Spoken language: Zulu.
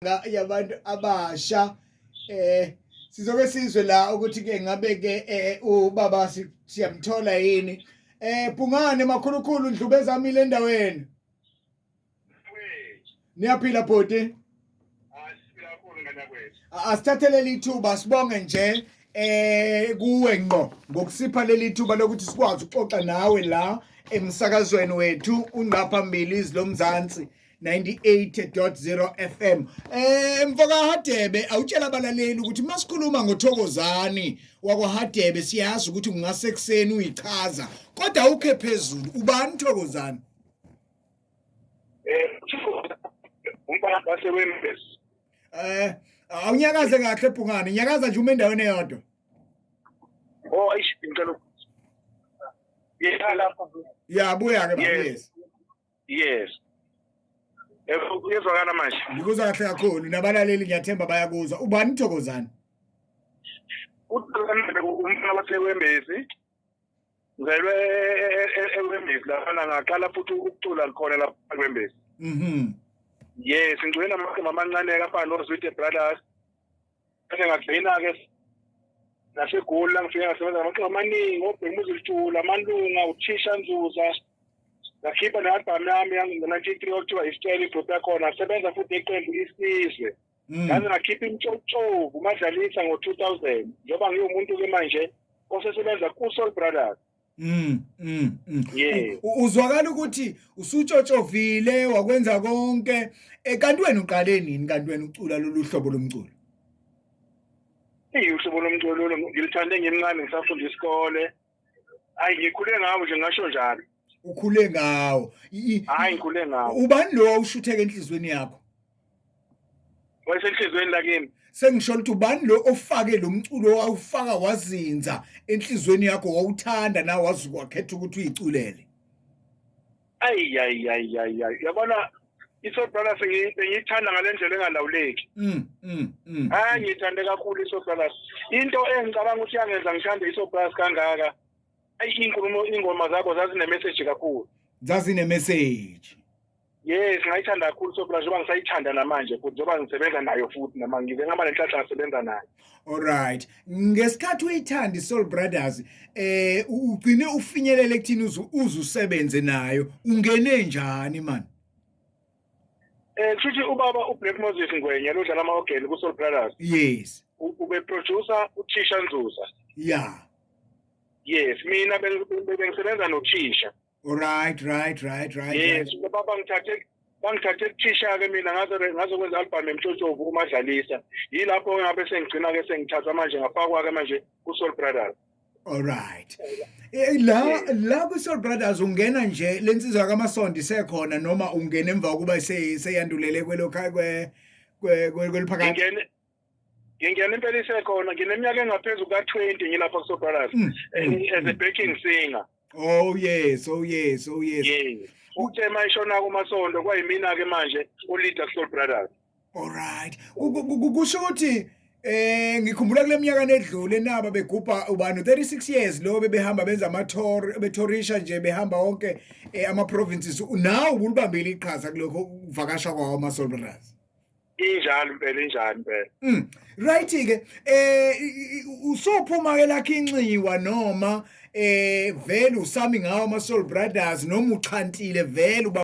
yabantu abasha eh sizoke sizwe la ukuthi ke ngabe ke eh, ubaba siyamthola yini eh Bhungane makhulukhulu ndlubezamile endaweni Niyaphila bhuti asithathelele ithuba sibonge nje eh kuwe ngqo ngokusipha leli thuba lokuthi sikwazi ukuxoxa nawe la emsakazweni wethu ungqa phambili izilomzansi 98.0 FM eh mfoka Hadebe awutshela abalaleli ukuthi masikhuluma ngothokozani wakwaHadebe siyazi ukuthi ungase ekseni uyichaza kodwa ukhe phezulu ubani thokozani eh umfana base wembesi eh awunyakaze kahle ebhungane nyakaza nje uma endaweni eyodwa oh ayish ngicela yeah lapha yeah buya ke yes yes uyezwakala manje ngikuzwa kahle kakhulu nabalaleli ngiyathemba bayakuzwa ubani uthokozani uthokozani umfana wasewembezi ngizelwe ewembezi lafana ngaqala futhi ukucula khona lapha kwembezi mhm yes ngicwena amagama amancane kafana nozwide brothers Kade ngagcina-ke naseGoli la ngifike ngasebenza namaqembu amaningi obhekumuzi litshula amalunga uthisha nzuza ngakhipha ne-albhamu yami yangu-nineteen three okuthiwa isitshela ibhuti yakhona asebenza futhi iqembu isizwe mm. ngaze ngakhipha imtshotshovu umadlalisa ngo-two thousand njengoba ngiwumuntu-ke manje osesebenza ku-soul brothers Mm, mm, mm. Yeah. Uzwakala ukuthi usutshotshovile wakwenza konke eh, kanti wena uqale nini kanti wena ucula lolu hlobo lomculo? Ihlobo lomculo ngilithande ngimncane ngisafunda isikole. Hayi ngikhule ngawo nje ngasho njalo. Ukhule ngawo. Hayi ngikhule ngawo. Ubani lo ushutheke enhlizweni yakho? wayesenhlizweni lakini sengisho ukuthi ubani lo ofake lo mculo wawufaka wazinza enhlizweni yakho wawuthanda na wazi kwakhetha ukuthi uyiculele ayi ayi ayi ayi yabona iSoul Brothers ngiyithanda ngalendlela engalawuleki mm mm mm hayi ngithande kakhulu iSoul Brothers into engicabanga ukuthi yangenza ngithande iSoul Brothers kangaka ayi inkulumo ingoma zakho zazine message kakhulu zazine message Yes, ngayithanda kakhulu sophela njengoba ngisayithanda namanje futhi njengoba ngisebenza nayo futhi nama ngize ngaba nenhlanhla ngisebenza nayo. Alright. Ngesikhathi uyithanda iSoul Brothers, eh u- ugcine ufinyelele kuthini uzu- uze usebenze nayo? Ungene njani man? Eh kushuthi ubaba uBlack Moses Ngwenya lodlala ama-organ ku-Soul Brothers Yes. u- ubeproducer uthisha Nzuza. Yeah. Yes, mina beng- beng- bengisebenza nothisha. Right, right, right, right. Yes, right. baba ngithathe bangithathe kuthisha ke mina ngaze ngaze kwenza album emtshotshovu umadlalisa. Yilapho ngabe sengigcina ke sengithatha manje ngafakwa ke manje ku Soul Brothers. Alright. Eh, la la ku Soul Brothers ungena nje lensizwa kaMasondi sekhona noma ungena emva kokuba seyandulele kwelokha kwe kweliphakathi. Ngene ngingena impela isekhona ngineminyaka engaphezu kuka-twenty ngilapha kusobrothers mm, eh, mm, as a mm. backing singer oh yes oh yes oh yes yes uthe uma ishona kumasonto kwayimina-ke manje uleader kusoul brothers alright kusho ukuthi Eh ngikhumbula kule minyaka nedlule naba begubha ubani 36 years lo bebehamba benza ama tour betourisha nje behamba wonke eh, ama provinces now ubulibambile iqhaza kulokho ukuvakasha kwawo ama soldiers injalo impela injani impela mm. right ke eh usophuma ke lakhe inxiwa noma eh vele usami ngawo ama soul brothers noma uchantile vele